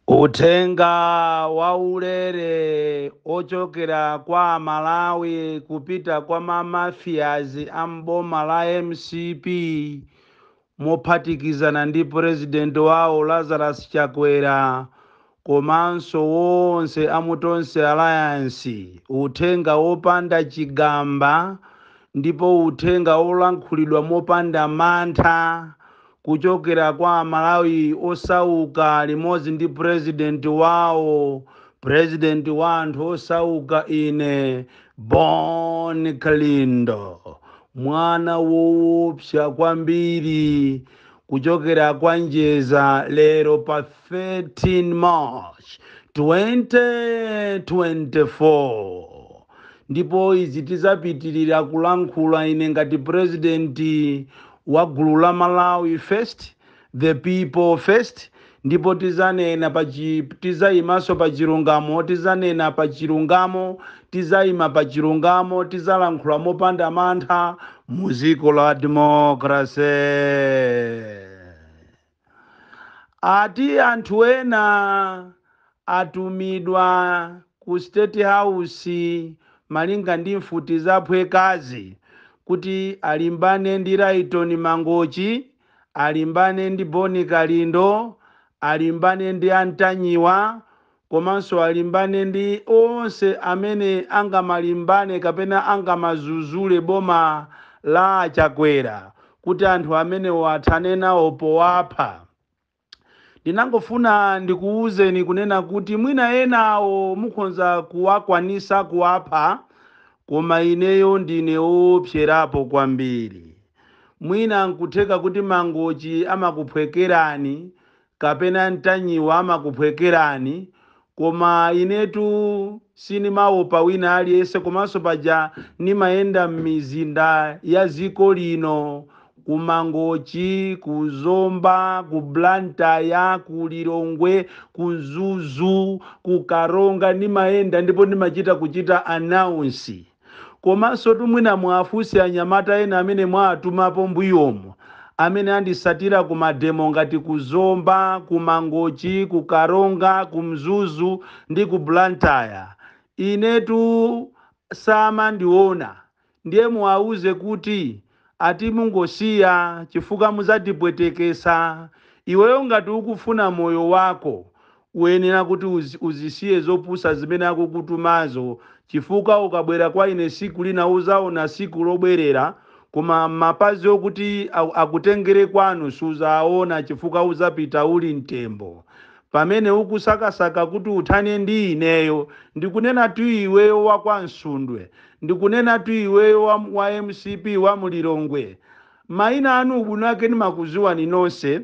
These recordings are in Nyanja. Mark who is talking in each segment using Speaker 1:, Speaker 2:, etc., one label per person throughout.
Speaker 1: Uthenga waulere ochokera kwa amalawi kupita kwa ma mafias a m'boma la mcp mophatikizana ndi president wawo Lazarus Chakwera komanso wonse a mu Tonse Alliance uthenga wopanda chigamba ndipo uthenga wolankhulidwa mopanda mantha kuchokera kwa Amalawi osauka limodzi ndi Purezidenti wawo, Purezidenti wa anthu osauka, ine Bon Kalindo, mwana woopsa kwambiri kuchokera kwa Njeza lero pa 13 march 2024 ndipo izi tizapitirira kulankhula ine ngati president wa gulu la malawi first the people first Ndipo tizanena pa chi, tizaimanso pa chilungamo, tizanena pa chilungamo, tizaima pa chilungamo, tizalankhula mopanda mantha mu ziko la democracy. Ati anthu ena atumidwa ku state house malinga ndi mfuti zaphwekazi kuti alimbane ndi Lyton Mangochi alimbane ndi Boni Kalindo, alimbane ndi a Ntanyiwa komanso alimbane ndi onse amene angamalimbane kapena angamazuzule boma la a Chakwera kuti anthu amenewa athane nawo powapha. Ndinangofuna ndikuwuzeni kunena kuti mwina enawo mukhonza kuwakwanisa kuwapha koma ineyo ndine owopserapo kwambiri. Mwina nkutheka kuti Mangochi amakuphwekerani kapena Ntanyiwa amakuphwekerani Koma inetu sinimaopa wina aliyense komanso paja nimayenda mmizinda ya ziko lino ku mangochi, ku zomba, ku blantyre, ku lilongwe, ku mzuzu, ku karonga nimayenda ndipo nimachita kuchita announce. Komansotu mwina muwafunse anyamata ena amene mwawatumapo mbuyomu amene andisatira ku mademo ngati ku Zomba, ku Mangochi, ku Karonga, ku Mzuzu ndi ku Blantyre. Inetu samandiona. Ndiye muwauze kuti Ati mungosiya chifukwa muzatipwetekesa iweyo ngati ukufuna moyo wako uyenera kuti uzisiye zopusa zimene akukutumazo chifukwa ukabwera kwa ine siku lina uzaona siku lobwerera koma mapazi akuti akutengere kwanu suzaawona chifukwa uzapita uli mtembo Pamene ukusakasaka kuti uthane ndi ineyo, ndikunenatu iweyo wa kwa Msundwe, ndikunenatu iweyo wa mcp wa mu Lilongwe. Maina anu ubwino wake ndimakuziwani nonse,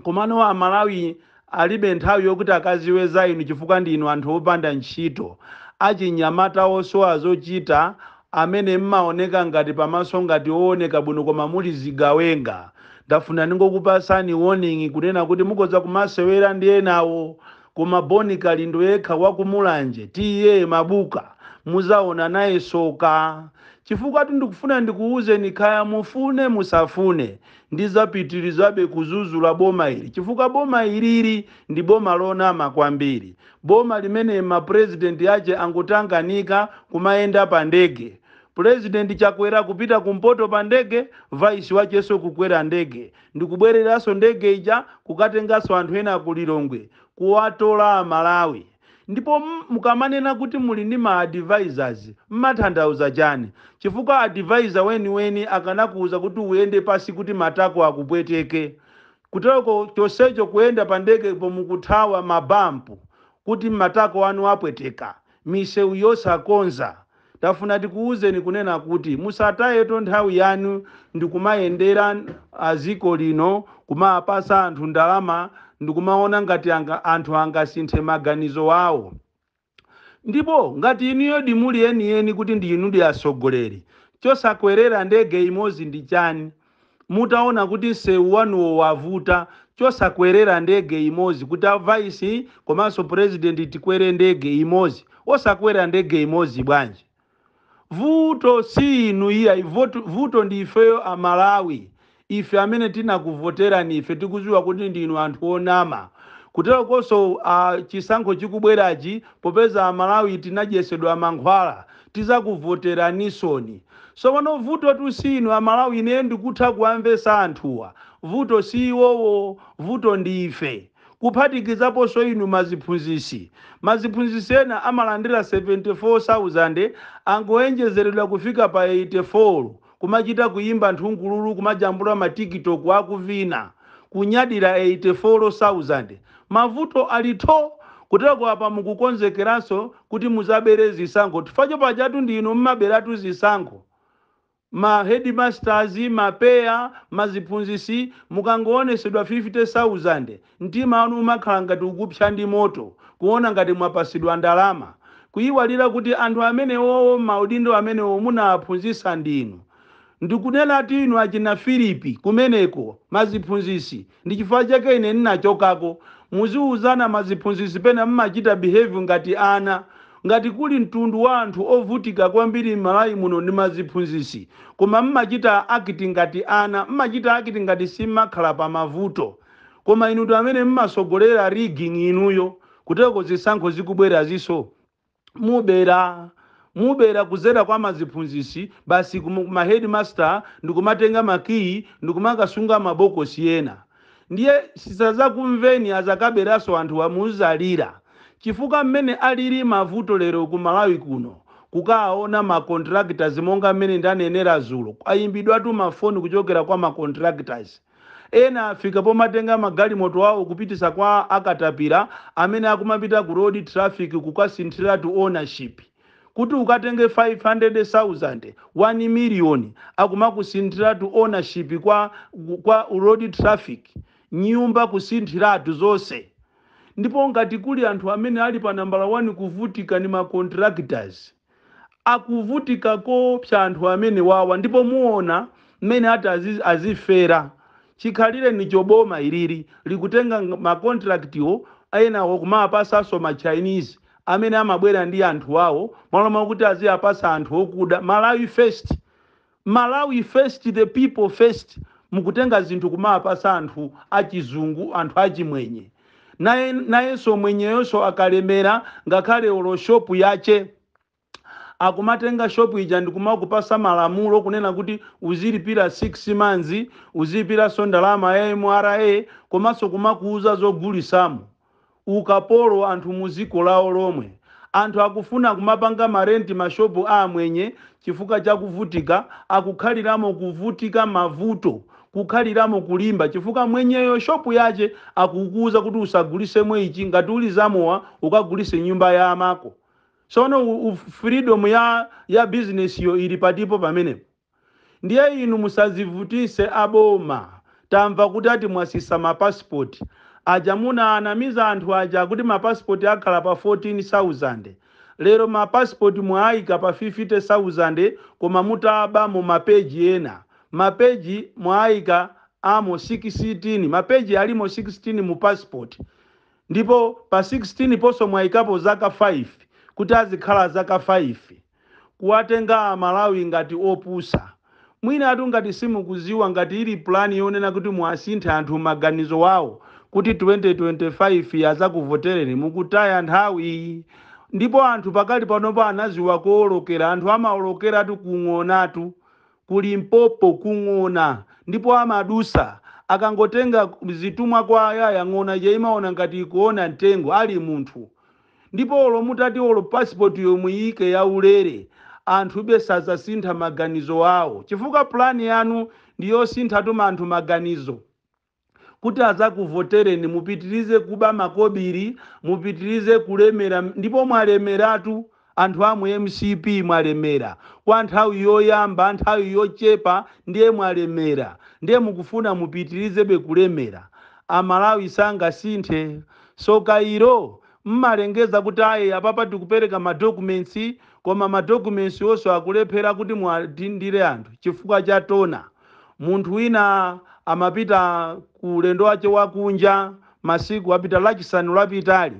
Speaker 1: komano a Malawi alibe nthawi yokuti akaziwe za inu chifukwa ndi inu anthu opanda ntchito, achinyamata osowa zochita, amene mmaoneka ngati pamaso ngati owoneka bwino koma muli zigawenga ndafuna ndingokupasani warning kunena kuti mukhoza kumasewela ndi enawo koma Bon Kalindo yekha wa ku Mulanje TA Mabuka muzaona naye soka chifukwatu ndikufuna ndikuuzeni khaya mufune musafune ndizapitilizabe kuzuzula boma ili chifukwa boma ilili ndi boma lonama kwambiri Boma limene ma president ache angotanganika kumayenda pa ndege. President Chakwera kupita ku mpoto pa ndege, vice wacheso kukwera ndege ndikubwereranso ndege ija kukatenganso anthu ena ku Lilongwe kuwatola a Malawi. Ndipo mukamanena kuti muli ndi ma advisors mmathandauza chani? Chifukwa advisor weniweni akanakuuza kuti uyende pansi kuti matako akupweteke. Kuteroko chonsecho kuyenda pa ndege pomwe mukuthawa ma bump kuti matako anu apweteka, misewu yosakonza. Tafuna tikuuzeni kunena kuti musatayeto nthawi yanu ndikumayendera a dziko lino kumawapatsa anthu ndalama ndikumaona ngati anthu angasinthe maganizo awo. Ndipo ngati inuyodi muli enieni kuti ndi inudi atsogoleri, chosakwerera ndege imodzi ndi chani? Mutaona kuti msewu wanuwo wavuta, chosakwerera ndege imodzi kuti a vice komanso president tikwere ndege imodzi? Osakwera ndege imodzi bwanji? Vuto si inu iyayi, vuto ndi ifeyo a Malawi, ife amene tinakuvoterani ife tikuziwa kuti ndinu anthu onama, kuterokonso chisankho chikubwerachi popeza a Malawi tinadyesedwa mankhwala tizakuvoteranisoni, sopano vutotu si inu a Malawi ineyo ndikutha kuwamvesa anthuwa, vuto si iwowo vuto ndi ife. kuphatikizaponso inu maziphunzisi. Maziphunzisi ena amalandira 74,000 angoenjezeredwa kufika pa 84 kumachita kuyimba nthungululu kumajambula ma TikTok akuvina. Kunyadira 84,000. Mavuto alitho! Kuteroko apa mukukonzekeranso kuti muzabere zisankho chifukwa cho pajatu ndi inu mmaberatu zisankho. ma headmasters, ma PEA, ma ziphunzisi mukangowonesedwa 50,000 mtima wanu umakhala ngati ukupsya ndi moto kuwona ngati mwapasidwa ndalama kuyiwalira kuti anthu amenewowo mmaudindo amenewo munawaphunzisa ndinu ndikunenatu inu achina Philip kumeneko ma ziphunzisi Ndi chifukwa chake ine ninachokako. Muziuzana ma ziphunzisi pena mmachita behave ngati ana. Ngati kuli mtundu wa anthu ovutika kwambiri Malawi muno ndi ma ziphunzisi. Koma mmachita act ngati ana. Mmachita act ngati simmakhala pa mavuto. Koma inutu amene mmasogolera rigging inuyo. Kuteloko zisankho zikubweraziso. mubera mubera kuzera kwa maziphunzisi basi kuma headmaster ndikumatenga makiyi ndikumakasunga mabokosi ena ndiye tisazakumveni azakaberaso anthuwa muzalira chifukwa mmene alili mavuto lero ku Malawi kuno kukaona ma contractors monga mmene ndanenera zulo kwayimbidwatu mafoni kuchokera kwa ma contractors Ena afika pomatenga magalimoto awo kupitisa kwa a katapila amene akumapita ku road traffic kukasinthilatu ownership. Kuti ukatenge 500,000, 1 million akumakusinthilatu ownership kwa ku road traffic. Nyumba kusinthilatu zonse. Ndipo ngati kuli anthu amene ali pa nambala 1 kuvutika ni ma contractors. Akuvutika koopsa anthu amenewawa ndipo muona mmene ati azifera. Chikhalirenicho boma ilili likutenga ma contract wo enawo kumawapasanso ma Chinese amene amabwera ndi anthu awo mmalo mwakuti aziapasa anthu okuda. Malawi first. Malawi first the people first mukutenga zinthu kumawapatsa anthu achizungu anthu achimwenye nayenso mwenyeyonso akalemera ngakhale olo shop yache akumatenga shop ija ndikumakupasa malamulo kunena kuti uzilipira 6 months uzilipiranso ndalama ya MRA komanso kumakuuza zogulisamo ukapolo anthu muziko lawo lomwe. Anthu akufuna kumapanga ma rent ma shop a amwenye chifukwa cha kuvutika akukhaliramo kuvutika mavuto kukhaliramo kulimba chifukwa mwenyeyo shop yache akukuuza kuti usagulisemo ichi ngati uli zamowa ukagulise mnyumba ya amako sono u freedom ya business yo ili patipo pamenepo? Ndiye inu musazivutise a boma tamva kuti ati mwasisa ma passport aja munaanamiza anthu aja kuti ma passport akhala pa 14000 lero ma passport mwaayika pa 50000 koma mutabamo ma page ena ma page mwaayikamo 16 ma page alimo 16 mu passport ndipo pa 16 ponso mwayikapo zaka 5 kuti azikhala zaka 5 kuwatenga amalawi ngati opusa. Mwinatu ngati simukuziwa ngati ili plan yonena kuti muwasinthe anthu maganizo awo kuti 2025 azakuvoteleni mukutaya nthawi. Ndipo anthu pakali panopa anaziwa koolokera anthu amaolokeratu ku ng'onatu ku Limpopo ku ng'ona ndipo amadusa akangotenga zitumwa kwa ayaya ng'ona ija imaona ngati ikuona mtengo ali munthu. ndipo olo mutati olo passport yo muyiike ya ulere anthube sazasintha maganizo awo chifukwa plan yanu ndi yosinthatu anthu maganizo kuti azakuvotereni mupitirize kuba makobiri mupitirize kulemera ndipo mwalemeratu anthu amu mcp mwalemera kwa nthawi yoyamba nthawi yochepa ndiye mwalemera ndiye mukufuna mupitirizebe kulemera amalawi sangasinthe So kayiro mmalengeza kuti ayi apapa tikupereka ma documents koma ma documents wonso akulephera kuti muwadindire anthu chifukwa cha tona. Munthu wina amapita ku ulendo wache wa kunja masiku apita lachisanu lapitali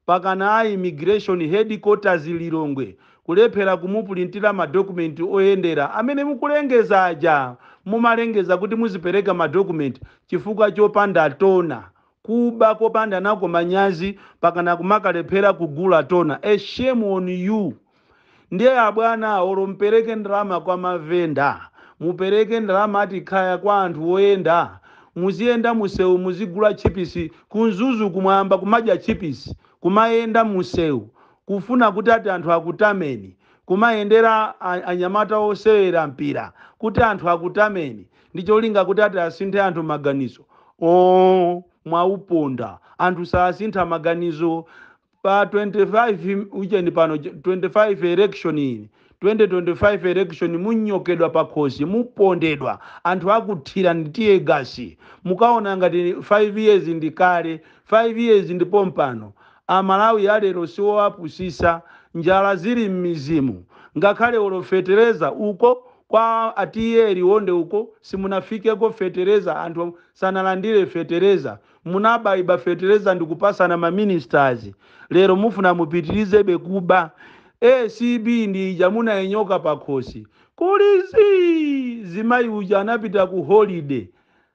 Speaker 1: pakana a immigration headquarters Lilongwe kulephera kumupulintira ma document oyendera amene mukulengeza aja mumalengeza kuti muzipereka ma document chifukwa chopanda tona kuba kopanda nako manyazi pakana kumakalephera kugula tona a shame on you ndiye abwana olo mpereke ndalama kwa mavenda mupereke ndalama ati kaya kwa anthu oyenda muziyenda musewu muzigula tchipisi ku Mzuzu kumayamba kumadya tchipisi kumayenda musewu kufuna kuti ati anthu akutameni kumayendera a- anyamata osewera mpira kuti anthu akutameni ndi cholinga kuti ati asinthe anthu maganizo oo mwauponda anthu sasintha maganizo pa 25 ujeni pano 25 election iyi 2025 election munyongedwa pakhosi mupondedwa anthu akuthira ndi tear gas mukaona ngati 5 years ndi kale 5 years ndipo mpano amalawi alero siwoapusisa njala zili m'mizimu ngakhale olofetereza uko Kwa a TA Liwonde uko simunafikeko fetereza anthu sanalandire fetereza munabaiba fetereza ndikupasana ma ministers lero mufuna mupitirizebe kuba acb ndi ija munainyonga pakhosi kuli zii zimayi uja anapita ku holiday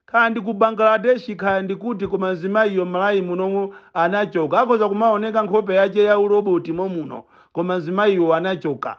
Speaker 1: kaya ndi ku Bangladesh kaya ndi kuti koma mzimayiyo Malawi munomo anachoka akhoza kumaoneka nkhope yache ya uroboti momuno koma mzimayiwo anachoka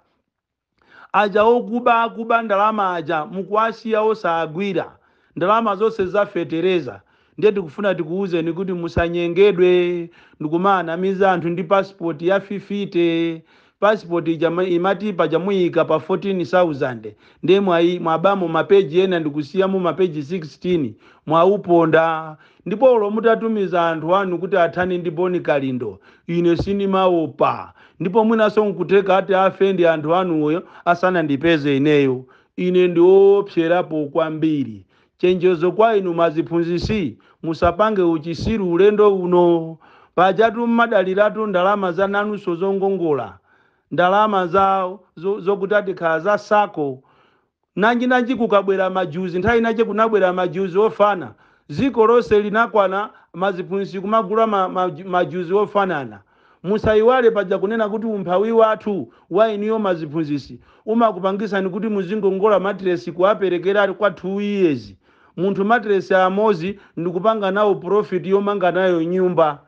Speaker 1: Aja okuba kuba ndalama aja mukuwasiya osagwira ndalama zonse za fetereza ndiye tikufuna tikuwuzeni kuti musanyengedwe ndikumaanamiza anthu ndi passport ya 50 passport imati paja muyika pa 14000 ndiye mwabamo ma page ena ndikusiyamo ma page 16 mwawuponda Ndipo olo mutatumiza anthu anu kuti athane ndi Boni Kalindo, ine sinimaopa. Ndipo mwinanso nkutheka ati afe ndi anthu anuyo asanandipeze ineyo. Ine ndi oopsyerapo kwambiri. Chenjezo kwa inu maziphunzitsi, musapange uchisiru ulendo uno. Pajatu mmadaliratu ndalama za nanunso zongongola. Ndalama zao zokuti atikhala za sacco. Nanji nanji kukabwera majuzi nthawi inache kunabwera majuzi ofana ziko lose linakwana maziphunzitsi kumagula majuzi ofanana musaiwale paja kunena kuti umphawi wathu wa inuyo maziphunzitsi umakupangisani kuti muzingongola matilesi kuwaperekera kwa two years munthu matilesi amozi ndikupanga nawo profit yomanga nayo nyumba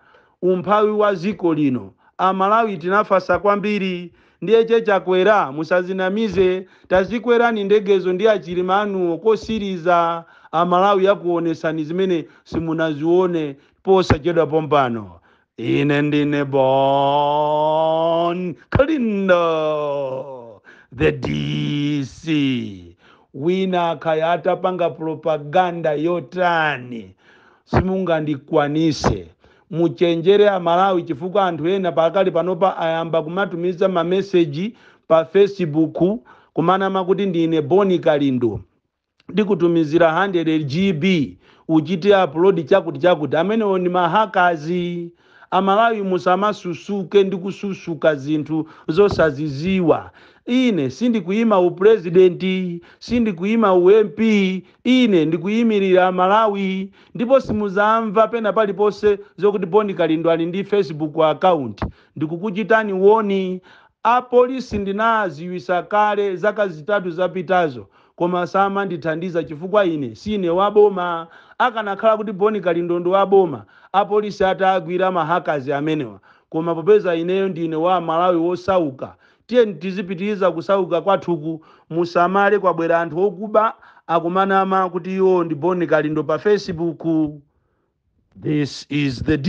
Speaker 1: umphawi wa ziko lino amalawi tinafasa kwambiri ndiye che chakwera musazinamize tazikwerani ndegezo ndi achilima anuwo kosiliza amalawi akuwonesani zimene simunaziwone posachedwa pompano ine ndine bon kalindo the dc wina kaya atapanga propaganda yotani Simungandikwanise. Muchenjere a Malawi chifukwa anthu ena pakali panopa ayamba kumatumiza ma message pa Facebook kumanama kuti ndine Boni Kalindo ndikutumizira 100GB uchite upload chakuti chakuti. Amenewo ndi ma hackers. A Malawi musamasusuke ndi kususuka zinthu zosaziziwa. Ine sindikuima u president, sindikuima u MP. Ine ndikuyimirira aMalawi ndipo simuzamva pena paliponse zokuti Bon Kalindo ali ndi Facebook account. Ndikukuchitani warni a police ndinaaziwisa kale zaka zitatu zapitazo koma samandithandiza chifukwa ine siine wa boma. Akanakhala kuti Bon Kalindo ndi wa boma a police ataagwira ma hackers amenewa koma popeza ineyo ndine wa Malawi wosauka Tiyeni tizipitiliza kusauka kwathuku musamale kwabwera anthu okuba akumanama kuti iwo ndi Bon Kalindo pa Facebook this is the D.